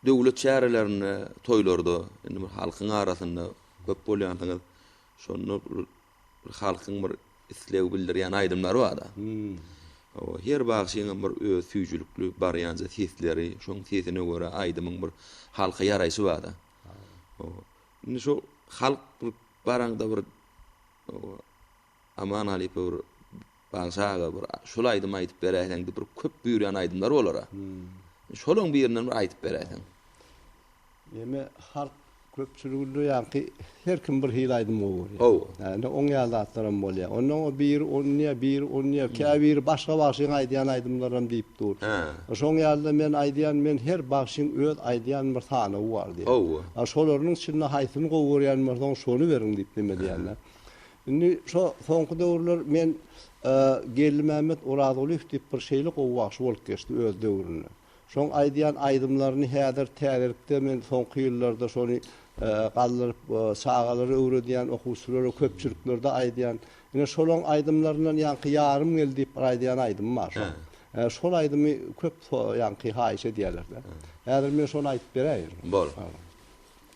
Döwlet çärelerinde, toýlarda, indi bir halkyň arasynda köp bolýansyňyz. Şonda bir halkyň bir isleg bildirýän aýdymlary bar-da. Hawa, her bagşyň hem bir öz süýjülikli barýanja sesleri, şoň sesine görä aýdymyň bir halka ýaraýşy bar-da. Hawa. Indi şo halk bir baraňda bir Aman Halypow bagşy aga bir şul aýdymy aýdyp beräýseň diýip bir köp buýurýan aýdymlar bolara. Şolaň birinden bir aýdyp beräýseň. Ýene halk köpçüliginde ýaňky her kim bir hili aýdym gowy görýär. Gowy. Hä indi oň ýaly zatlaram bolýar. Onnoň o biri onýa biri onýa käbiri başga bagşyň aýdýan aýdymlaram diýip dur. Hä. Şoň ýalyda men aýdýan men her bagşyň öz aýdýan bir sanawy bar diýýän. Gowy. Şolarynyň içinde haýsyny gowy görýän bolsaň şony beriň diýip neme diýýän. Indi şo soňky döwürler men Geldimämmet Orazgulyýew diýip bir şeýle gowy bagşy bolup geçdi öz döwründe. Şoň aýdýan aýdymlaryny häzir täzelikde men soňky ýyllarda şony galdyryp çagalara öwredýän, okuwçylara köpçüliklerde aýdýan. Ine şolaň aýdymlaryndan ýaňky Ýarym gel diýip bir aýdýan aýdym bar şoň. Şol aýdymy köp ýaňky haýyş edýäler-de. Häzir men şony aýdyp beräýerin. Bol.